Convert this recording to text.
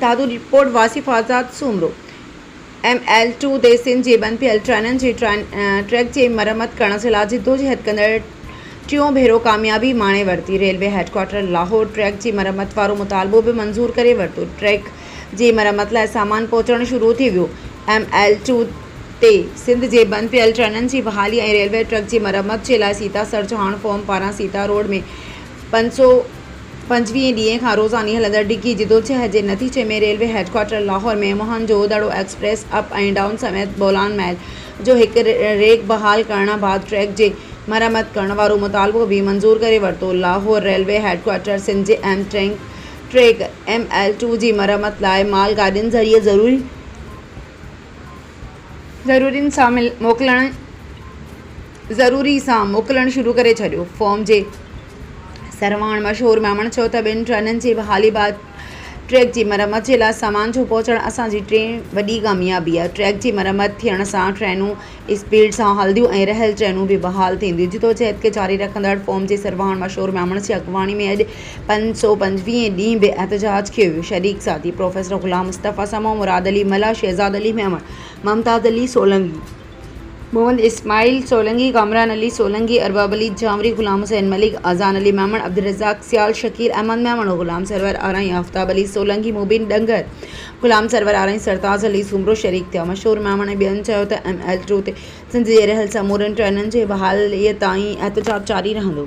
Dadu report, Wasif Azad Soomro, M L two تي سنڌ جي بند پيل ٽرينن جي ٽريڪ جي مرمت ڪرڻ جي لاء جدوجهد ڪندڙ ٽيون ڀيرو ڪاميابي ماڻي ورتي، ريلوي هيڊڪوارٽر لاهور ٽريڪ جي مرمت وارو مطالبو به منظور ڪري ورتو، ٽريڪ جي مرمت لاء سامان پهچڻ شروع ٿي ويو، ايم ايل ٽو تي سنڌ جي بند پيل ٽرينن جي بحالي ۽ ريلوي ٽريڪ جي مرمت جي لاء سيتا سرجهاڻ فورم پاران سيتا روڊ ۾ پنج سؤ پنجويهين ڏينهن کان روزاني هلندڙ ڊگهي جدوجهد جي نتيجي ۾ railway headquarter Lahore ۾ Mohenjo Daro express up ۽ down سميت بولان محل جو هڪ ريڪ بحال ڪرڻ بعد ٽريڪ جي مرمت ڪرڻ وارو مطالبو به منظور ڪري ورتو Lahore railway headquarter Sindh جي اهم ٽريڪ ايم ايل ٽو جي مرمت لاء مال گاڏين ذريعي ضرورين سان موڪلڻ ضروري سان موڪلڻ شروع ڪري ڇڏيو. فورم جي سرواڻ مشهور ميمڻ چيو ته ٻن ٽرينن جي بحالي بعد ٽريڪ جي مرمت جي لاء سامان جو پهچڻ اسان جي ٽين وڏي ڪاميابي آهي، ٽريڪ جي مرمت ٿيڻ سان ٽرينون اسپيڊ سان هلنديون ۽ رهيل ٽرينون به بحال ٿينديون، جدوجهد کي جاري رکندڙ فورم جي سرواڻ مشهور ميمڻ جي اڳواڻي ۾ اڄ پنج سؤ پنجويهين ڏينهن به احتجاج ڪيو ويو، شريڪ ساٿي پروفيسر غلام مصطفيٰ سمون، مراد علي ملاح، شهزاد علي ميمڻ، ممتاز علي سولنگي. محمد اسماعيل سولنگي، ڪامران علي سولنگي، ارباب علي جھانوري، غلام حسين ملڪ، اذان علي ميمڻ، عبدالرزاق سيال، شڪيل احمد ميمڻو، غلام سرور آرائين، آفتاب علي سولنگي، مبين ڏنگر، غلام سرور آرائين، سرتاز علي سومرو شريڪ ٿيا. مشھور ميمڻ ۽ ٻين چيو ته ايم ايل ٽو تي سنڌ جي رھيل سمورين ٽرينن جي بحاليء تائين احتجاج جاري رھندو.